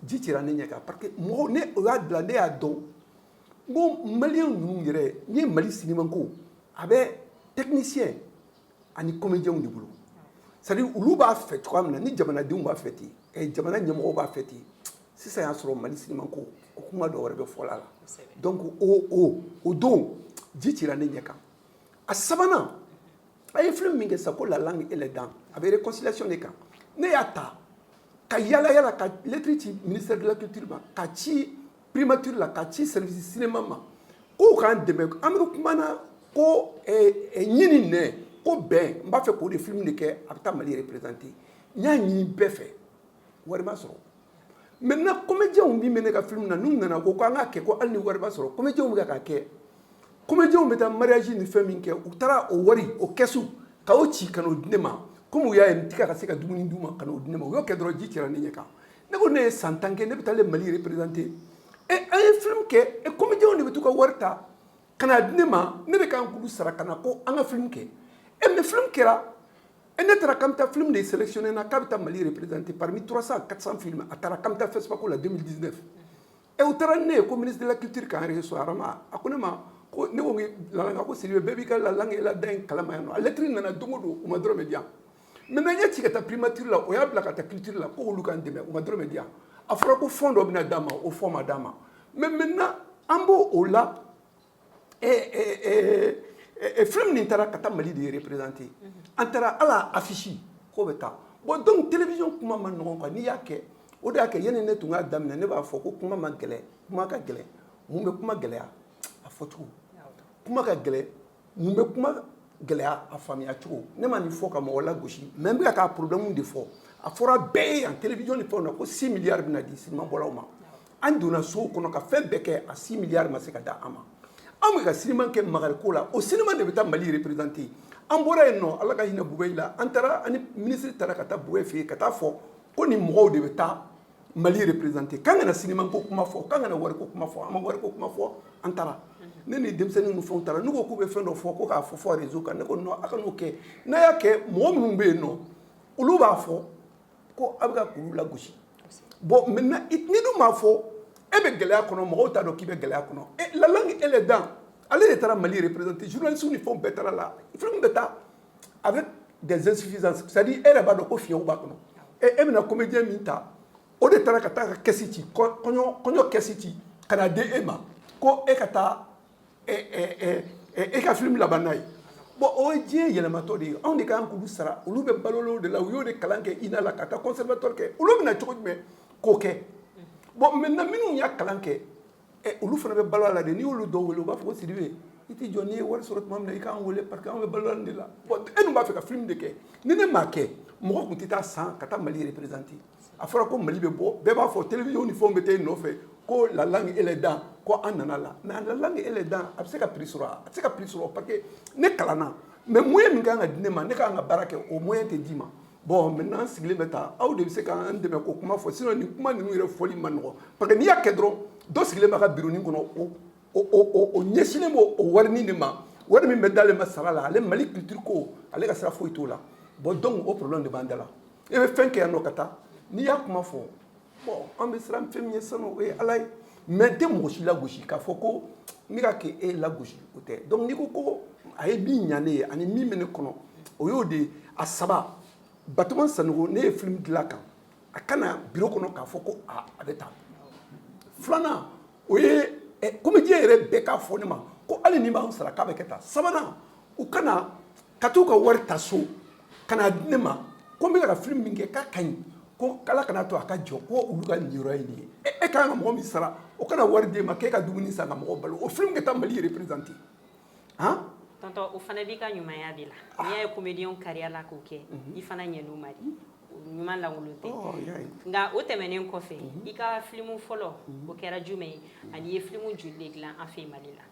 ji cira ne ɲɛ kan parce que mɔgɔw ne o y'a dilan ne y'a dɔn ko maliyɛn ninnu yɛrɛ n ye mali cinéma ko a bɛ technicien ani comédiens de bolo c'est à dire olu b'a fɛ cogoya min na ni jamanadenw b'a fɛ ten eh, jamana ɲɛmɔgɔw b'a fɛ ten sisan y'a sɔrɔ mali sinima ko o kuma dɔ wɛrɛ bɛ fɔ a la donc o o o don ji cira ne ɲɛ kan a sabanan an ye film min kɛ sa ko la langue et les dents a bɛ réconciliation de kan ne y'a ta ka yala yala ka lettre ci ministère de la culture ma ka ci Primature la ka ci service cinéma ma k'u k'an dɛmɛ amadu kuma na ko ɲani nɛ ko bɛn n b'a fɛ k'o de film de kɛ a bɛ taa mali représenter n y'a ɲini bɛɛ fɛ wari ma sɔrɔ maintenant comédienw min bɛ ne ka film na n'u nana ko an k'a kɛ ko hali ni wari ma sɔrɔ comédienw bɛ k'a kɛ comédienw bɛ taa mariage ni fɛn min kɛ u taara o wari o kɛsu k'a ci ka n'a di ne ma kɔmi u y'a ye n tɛ ka se ka dumuni d'u ma ka n'o di ne ma u y'o kɛ dɔrɔn ji cira ne ɲɛ kan ne ko ne ye san tan kɛ ne bɛ taa mali représenter e an ye film kɛ e comédienw de bɛ to ka wari ta ka n'a di ne ma ne de kan k'olu sara ka na ko an ka film kɛ e mais film kɛra e ne taara k'an bɛ taa film de sélectionner na k'a bɛ taa mali représenter parmi 300 400 films a taara k'an bɛ taa FESPACO la 2019 ɛ u taara ni ne ye ko ministre de la culture k'an reçu Arama a ko ne ma ko ne ko la langue ko Sidibe bɛɛ b'i ka la langue et les dents kalama yan nɔ a lɛtiri nana don o don u ma dɔrɔmɛ di yan maintenant n y'a ci ka taa primature la o y'a bila ka taa culture la ko olu k'an dɛmɛ u ma dɔrɔmɛ di yan a fɔra ko fond dɔ bɛna d'a ma o fond ma d'a ma mais maintenant an b'o la film nin taara ka taa mali de représenter an taara ala affiche k'o bɛ taa bon donc télévision kuma ma nɔgɔn quoi n'i y'a kɛ o de y'a kɛ yanni ne tun k'a daminɛ ne b'a fɔ ko kuma ma gɛlɛn kuma ka gɛlɛn mun bɛ kuma gɛlɛya a fɔcogo kuma ka gɛlɛn mun bɛ kuma gɛlɛya a faamuyacogo ne ma nin fɔ ka mɔgɔ lagosi mais n bɛ k'a problème de fɔ a fɔra bɛɛ ye yan télévision ni fɛnw na ko six milliards bɛna di cinéma bɔlaw ma an donna sow kɔnɔ ka fɛn bɛɛ kɛ a six milliards ma se ka da an ma an bɛ ka sinima kɛ magariko la o sinima de bɛ taa mali reperezante an bɔra yen nɔ ala ka hinɛ bubɛyi la an taara ani minisiri taara ka taa bubɛyi fɛ yen ka taa fɔ ko nin mɔgɔw de bɛ taa mali reperezante k'an kana sinima ko kuma fɔ k'an kana wariko kuma fɔ an ma wariko kuma fɔ an taara ne ni denmisɛnnin ninnu fɛnw taara n'u ko k'u bɛ fɛn dɔ fɔ ko k'a fɔ rezo kan ne ko non a kan'o kɛ n'a y'a kɛ mɔgɔ minnu bɛ yen nɔ olu b'a fɔ ko aw bɛ ka k'olu lagosi bon maintenant n'i dun m'a fɔ e bɛ gɛlɛya kɔnɔ mɔgɔw t'a dɔn k'i bɛ gɛlɛya kɔnɔ e la langue et les dents ale de taara mali représenter journalistew ni fɛn bɛɛ taara la film bɛ taa avec des insuffisances c'est-à-dire e yɛrɛ b'a dɔn ko fiɲɛw b'a kɔnɔ e e bɛna comédien min ta o de taara ka taa ka kɛsi ci kɔɲɔ kɛsi ci ka na di e ma ko e ka taa e ka film laban n'a ye bon o ye diɲɛ yɛlɛmatɔ de ye anw de ka kan k'olu sara olu bɛ balo de la u y'o de kalan kɛ INA la ka taa conservatoire kɛ olu bɛna cogo jumɛn k'o kɛ bon maintenant minnu y'a kalan kɛ olu fana bɛ balo a la de n'i y'olu dɔw wele u b'a fɔ ko Sidibe i tɛ jɔ n'i ye wari sɔrɔ tuma min na i k'an wele parce que anw bɛ balo de la bon e dun b'a fɛ ka film de kɛ ni ne m'a kɛ mɔgɔ tun tɛ taa san ka taa mali représenter a fɔra ko mali bɛ bɔ bɛɛ b'a fɔ télévision ni fɛnw bɛ taa i nɔfɛ ko la langue et les dents ko an nana la mais la langue et les dents a bɛ se ka prix sɔrɔ a tɛ se ka prix sɔrɔ parce que ne kalanna mais moyen min ka kan ka di ne ma ne ka kan ka baara kɛ o moyen tɛ d'i ma bon maintenant an sigilen bɛ tan aw de bɛ se k'an dɛmɛ k'o kuma fɔ sinon nin kuma ninnu yɛrɛ fɔli ma nɔgɔ parce que n'i y'a kɛ dɔrɔn dɔ sigilen b'a ka bironi kɔnɔ o o o ɲɛsinnen b'o o warini de ma wari min bɛ d'ale ma sara la ale mali culture ko ale ka sira foyi t'o la bon donc o problème de b'an da la e bɛ fɛn kɛ yan nɔ ka taa n'i y'a kuma fɔ bon an bɛ siran fɛn min ɲɛ sanu o ye ala ye mais n tɛ mɔgɔ si lagosi k'a fɔ ko n bɛ ka kɛ e lagosi o tɛ donc n'i ko ko a ye min ɲa ne ye ani min bɛ ne kɔnɔ o y'o de a saba batoma sanogo ne ye filimu dilan kan a ka na biro kɔnɔ k'a fɔ ko a bɛ taa filanan o ye comédien yɛrɛ bɛɛ k'a fɔ ne ma ko hali n'i b'an sara k'a bɛ kɛ tan sabanan u ka na ka t'u ka wari ta so ka n'a di ne ma ko n bɛ ka film min kɛ k'a ka ɲi ko ala kana to a ka jɔ ko olu ka niyɔrɔ ye nin ye e ka kan ka mɔgɔ min sara o ka na wari d'e ma k'e ka dumuni san ka mɔgɔ balo o film ka taa mali représenter han tonton o fana b'i ka ɲumanya de la ah. n'i y'a ye comédien kariya la k'o kɛ mhm. i fana ɲɛn'u ma de ɲuman lankolon tɛ oh, nka o tɛmɛnen kɔfɛ mhm. i ka filimu fɔlɔ mhm. o kɛra jumɛn ye ani i ye filimu joli de dilan an fɛ mali la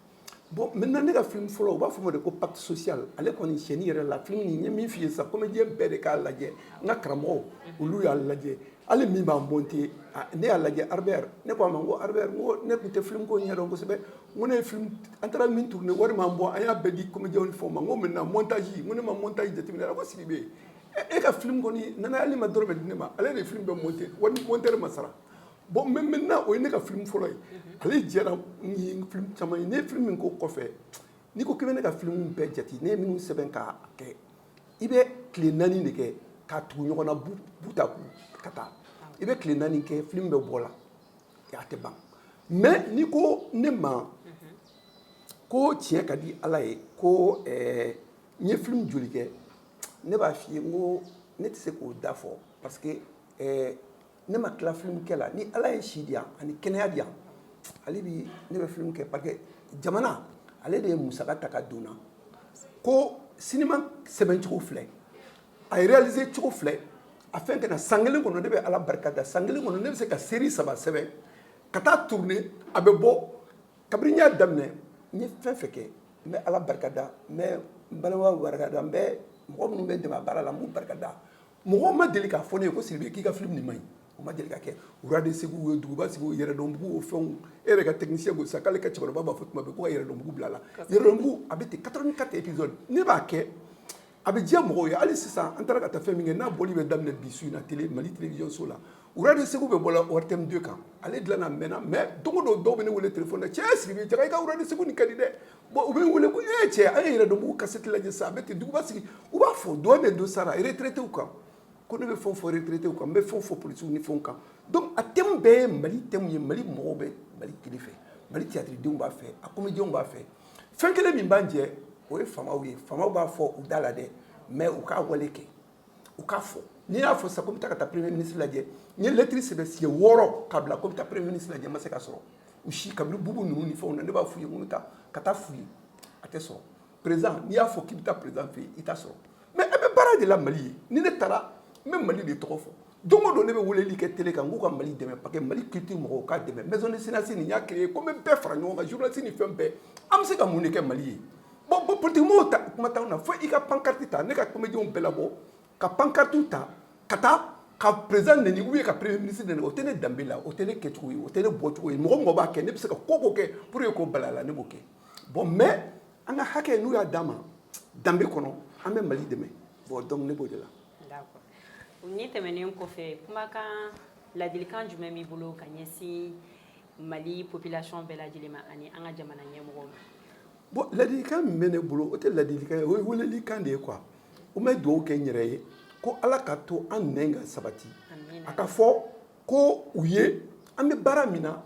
bon maintenant ne ka film fɔlɔ u b'a fɔ o ma de ko pacte social ale kɔni tiɲɛni yɛrɛ la film nin n ye min f'i ye sisan comédien bɛɛ de k'a lajɛ n ka karamɔgɔw olu y'a lajɛ hali min b'a monte ne y'a lajɛ albert ne ko a ma n ko albert n ko ne tun tɛ film ko ɲɛdɔn kosɛbɛ n ko ne ye film an taara min tourner wari m'an bɔ an y'a bɛɛ di comédienw ni fɛnw ma n ko maintenant montage n ko ne ma montage jateminɛ a ko sidibe e ka film kɔni nana hali i ma dɔrɔmɛ di ne ma ale de ye film bɛɛ monte wari monteur ma sara bon maintenant o ye ne ka filimu fɔlɔ ye ale jɛra ni filimu caman ye ne ye filimu min k'o kɔfɛ n'i ko k'i bɛ ne ka filimu bɛɛ jate ne ye minnu sɛbɛn k'a kɛ i bɛ tile naani de kɛ k'a tugu ɲɔgɔn na bout à bout ka taa i bɛ tile naani kɛ filimu bɛ bɔ la a tɛ ban mais n'i ko ne ma ko tiɲɛ ka di ala ye ko eh, n ye filimu joli kɛ ne b'a f'i ye n ko ne tɛ se k'o da fɔ parce que eh, ne ma tila filimu kɛ la ni ala ye si di yan ani kɛnɛya di yan hali bi ne bɛ filimu kɛ parce que jamana ale de ye musaka ta ka donna ko sinima sɛbɛn cogo filɛ a réaliser cogo filɛ a fɛn kana san kelen kɔnɔ ne bɛ ala barika da san kelen kɔnɔ ne bɛ se ka série saba sɛbɛn ka taa tourner a bɛ bɔ kabini n y'a daminɛ n ye fɛn fɛn kɛ n bɛ ala barika da n bɛ n balimaw barika da n bɛ mɔgɔ minnu bɛ n dɛmɛ a baara la n b'u barika da mɔgɔ ma deli k'a fɔ ne ye ko sidibe k'i ka film nin man ɲi o ma deli ka kɛ rois de segu o ye duguba sigi o yɛrɛdɔnbugu o fɛnw e yɛrɛ ka technicien ko sa k'ale ka cɛkɔrɔba b'a fɔ tuma bɛɛ ko ka yɛrɛdɔnbugu bila la yɛrɛdɔnbugu a bɛ ten 84 épisode ne b'a kɛ a bɛ diya mɔgɔw ye hali sisan an taara ka taa fɛn min kɛ n'a bɔli bɛ daminɛ bi su in na tele mali télévision so la rois de segu bɛ bɔ la ortm 2 kan ale dilanna mɛnna mais don o don dɔw bɛ ne wele telefɔni na cɛ sidibe jaga i ka rois de segu nin ka di dɛ Bon u bɛ n wele ko e cɛ an ye yɛrɛdɔnbugu cassette lajɛ sisan a bɛ ten duguba sigi u b'a fɔ dɔn bɛ don sara retraitéw kan ko ne bɛ fɛn fɔ retraitéw kan n bɛ fɛn fɔ polisiw ni fɛnw kan donc a thème bɛɛ ye mali thème ye mali mɔgɔw bɛ mali télé fɛ mali théâtredenw b'a fɛ a comédienw b'a fɛ fɛn kelen min b'an jɛ o ye faamaw ye faamaw b'a fɔ u da la dɛ mais u k'a wale kɛ u k'a fɔ n'i y'a fɔ sa ko n bɛ taa ka taa premier ministre lajɛ n ye lɛtiri sɛbɛn siɲɛ wɔɔrɔ k'a bila ko n bɛ taa premier ministre lajɛ n ma se k'a sɔrɔ u si kabini bubu ninnu ni fɛnw na ne b'a f'u ye ko n bɛ taa ka taa f'u ye a tɛ sɔrɔ président n'i y'a fɔ k'i bɛ taa président fɛ yen i t'a sɔrɔ mais an bɛ baara de la mali ye ni ne taara n bɛ mali de tɔgɔ fɔ don o don ne bɛ weleli kɛ tele kan k'u ka mali dɛmɛ parce que mali culture mɔgɔw ka dɛmɛ maison des cinéastes ne y'a créé ko n bɛ bɛɛ fara ɲɔgɔn kan journaliste ni fɛn bɛɛ an bɛ se ka mun de kɛ mali ye Bon bon peut-être a kuma tɛ na fo i ka pancarte ta ne ka comédienw bɛɛ labɔ ka pancarte ta ka taa ka président neni ou bien ka premier ministre neni o tɛ ne danbe la o tɛ ne kɛcogo ye o tɛ ne bɔcogo ye mɔgɔ mɔgɔ b'a kɛ ne bɛ se ka ko ko kɛ pour que k'o bali a la ne b'o kɛ bon mais an ka hakɛ n'u y'a d'an ma danbe kɔnɔ an bɛ mali dɛmɛ bon donc ne b'o de la nin tɛmɛnen kɔfɛ kumakan ladilikan jumɛn b'i bolo ka ɲɛsin mali population bɛɛ lajɛlen ma ani an ka jamana ɲɛmɔgɔw ma bon ladilikan min bɛ ne bolo o tɛ ladilikan ye o ye welelikan de ye quoi n bɛ dugawu kɛ n yɛrɛ ye ko Ala ka to an nɛn ka sabati a k'a fɔ ko u ye an bɛ baara min na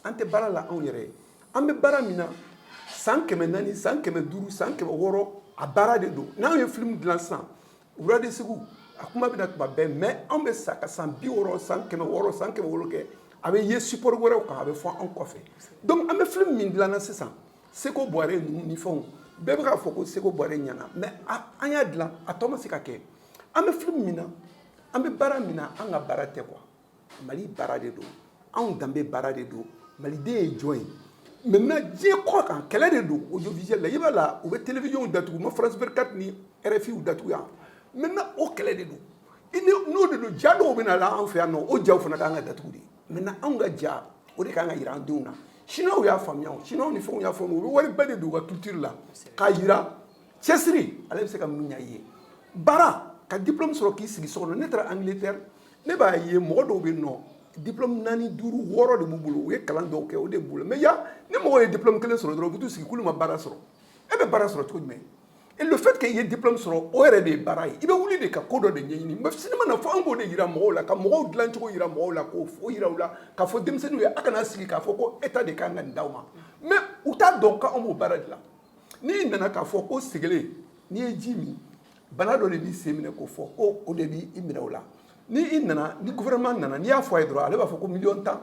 an tɛ baara la anw yɛrɛ ye an bɛ baara min na san kɛmɛ naani san kɛmɛ duuru san kɛmɛ wɔɔrɔ a baara de don n'anw ye film dilan sisan rois de segu a kuma bɛ na tuma bɛɛ mais anw bɛ sa ka san bi wɔɔrɔ san kɛmɛ wɔɔrɔ san kɛmɛ wɔɔrɔ kɛ a bɛ ye support wɛrɛw kan a bɛ fɔ anw kɔfɛ donc an bɛ film min dilan na sisan seko bɔre ninnu ni fɛnw bɛɛ bɛ k'a fɔ ko seko bɔre ɲɛna mais an y'a dilan a tɔ ma se ka kɛ an bɛ film min na an bɛ baara min na an ka baara tɛ quoi mali baara de don anw danbe baara de don maliden ye jɔn ye maintenant diɲɛ kɔ kan kɛlɛ de don audiovisuel la i b'a la u bɛ télévision datugu ma france 24 ni rfi u datugu yan maintenant o kɛlɛ de don n'o de don ja dɔw bɛ na la an fɛ yan nɔ o jaw fana ka kan ka datugu de maintenant anw ka ja o de ka kan ka jira an denw na chinois y'a faamuya chinois ni fɛnw y'a faamu u bɛ wariba de don u ka culture la k'a jira cɛsiri ale bɛ se ka mun ɲa i ye baara ka diplome sɔrɔ k'i sigi so kɔnɔ ne taara angleterre ne b'a ye mɔgɔ dɔw bɛ nɔ diplome naani duuru wɔɔrɔ de b'u bolo u ye kalan dɔw kɛ o de b'u la mais yan ni mɔgɔ ye diplome kelen sɔrɔ dɔrɔn u bɛ t'u sigi k'olu ma baara sɔrɔ e bɛ baara sɔrɔ cogo jumɛn Et le fait que i ye diplôme sɔrɔ o yɛrɛ de ye baara ye i bɛ wuli de ka ko dɔ de ɲɛɲini mais cinéma na fɔ an k'o de yira mɔgɔw la ka mɔgɔw dilan cogo yira mɔgɔw la k'o o yira u la k'a fɔ denmisɛnninw ye a kana sigi k'a fɔ ko état de kan ka nin d'aw ma mais u t'a dɔn ko an b'o baara de la n'i nana k'a fɔ ko segelen n'i ye ji min bana dɔ de b'i sen minɛ k'o fɔ ko o de b'i minɛ o la ni i nana ni gouvernement nana n'i y'a fɔ a ye dɔrɔn ale b'a fɔ ko miliyɔn tan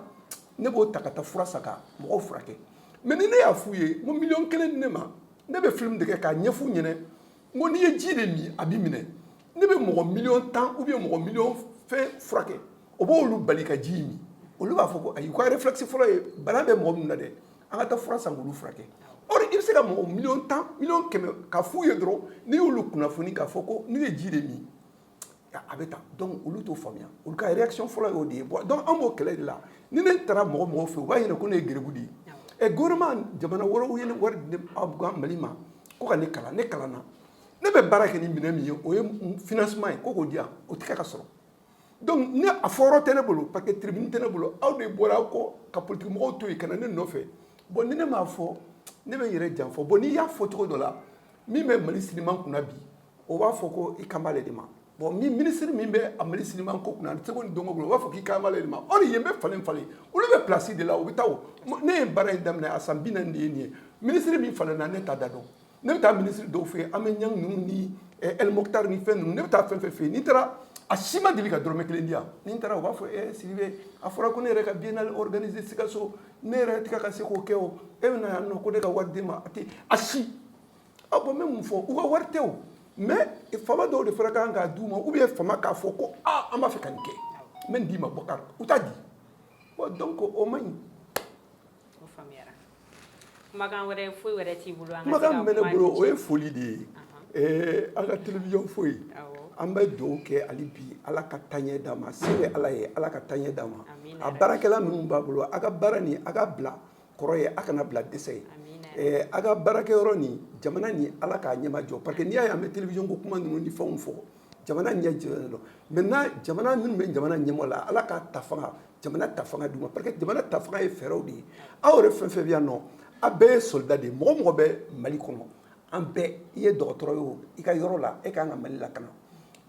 ne b'o ta ka taa fura san ka mɔgɔw furakɛ mais ni ne y'a f'u ye n ko miliyɔn kelen di ne ma ne bɛ film de kɛ k'a ɲɛf'u ɲɛna n ko n'i ye ji de min a b'i minɛ ne bɛ mɔgɔ miliyɔn tan ou bien mɔgɔ miliyɔn fɛn furakɛ o b'olu bali ka ji min olu b'a fɔ ko ayi u ka réflexe fɔlɔ ye bana bɛ mɔgɔ min na dɛ an ka taa fura san k'olu furakɛ or i bɛ se ka mɔgɔ miliyɔn tan miliyɔn kɛmɛ k'a f'u ye dɔrɔn n'i y'olu kunnafoni k'a fɔ ko n'u ye ji de min a bɛ taa donc olu t'o faamuya olu ka réaction fɔlɔ y'o de ye bon donc an b'o kɛlɛ de la ni ne taara mɔgɔ mɔgɔ fɛ u b'a ɲɛna ko ne ye garibu de ye ɛ gouvernement jamana wɛrɛw ye wari di mali ma ko ka ne kalan ne kalanna ne bɛ baara kɛ ni minɛn min ye o ye financement ye ko k'o di yan o tɛ ka sɔrɔ donc ne a fɔyɔrɔ tɛ ne bolo parce que tribune tɛ ne bolo aw de bɔra aw kɔ ka politigimɔgɔw to yen ka na ne nɔfɛ bon ni ne m'a fɔ ne bɛ n yɛrɛ janfa bon n'i y'a fɔ cogo dɔ la min bɛ mali cinéma kunna bi o b'a fɔ ko i kan b'ale de ma bon ni minisiri min bɛ a mali sinima ko kunna ani seko ni dɔnko bolo o b'a fɔ k'i kan b'ale de ma or yen bɛ falen falen olu bɛ plasi de la u bɛ taa ne ye baara in daminɛ a san binaani de ye nin ye minisiri min falenna ne t'a da dɔn ne bɛ taa minisiri dɔw fɛ yen hamane niang ninnu ni el moctar ni fɛn ninnu ne bɛ taa fɛn fɛn fɛ yen n'i taara a si ma deli ka dɔrɔmɛ kelen di yan ni n taara u b'a fɔ e sidibe a fɔra ko ne yɛrɛ ka biennale organiser sikaso ne yɛrɛ tɛ ka se k'o kɛ o e bɛna yan nɔ ko ne ka wari d'i ma a tɛ a si A bon n bɛ mun fɔ u ka wari tɛ o mais faama dɔw de fana kan k'a d'u ma ou bien faama k'a fɔ ko aaa an b'a fɛ ka nin kɛ n bɛ nin d'i ma bɔkari u t'a di donc o man ɲi kumakan wɛrɛ foyi wɛrɛ t'i bolo kumakan min bɛ ne bolo o ye foli de ye ɛɛ an ka télévision foyi ye an bɛ dugawu kɛ hali bi ala ka taaɲɛ d'a ma se bɛ ala ye ala ka taaɲɛ d'a ma a baarakɛla minnu b'a bolo a ka baara nin a ka bila kɔrɔ ye a kana bila dɛsɛ ye ɛɛ a ka baarakɛyɔrɔ ni jamana ni ala k'a ɲɛma jɔ parce que n'i y'a ye an bɛ télévision ko kuma ninnu ni fɛnw fɔ jamana ɲɛ jɔlen don maintenant jamana minnu bɛ jamana ɲɛmɔ la ala k'a ta fanga jamana ta fanga d'u ma parce que jamana ta fanga ye fɛɛrɛw de ye aw yɛrɛ fɛn fɛn bɛ yan nɔ a bɛɛ ye soldat de ye mɔgɔ mɔgɔ bɛ mali kɔnɔ an bɛɛ i ye dɔgɔtɔrɔ ye o i ka yɔrɔ la e ka kan ka mali lakana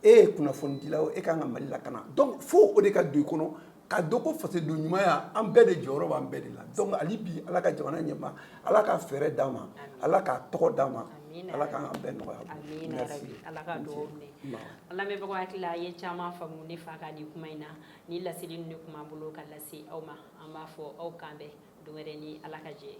e ye kunnafonidila o e ka kan ka mali lakana donc fo o de ka don i kɔnɔ ka dɔn ko fasoden ɲumanya an bɛɛ de jɔyɔrɔ b'an bɛɛ de la donc hali bi ala ka jamana ɲɛma ala ka fɛɛrɛ d'a ma ala k'a tɔgɔ d'a ma ala k'an ka bɛɛ nɔgɔya ala ka dugawu minɛ an lamɛnbagaw hakili la a ye caman faamu ne fa ka nin kuma in na ni laseli ninnu de tun b'an bolo ka lase aw ma an b'a fɔ aw k'an bɛn don wɛrɛ ni ala ka jɛ ye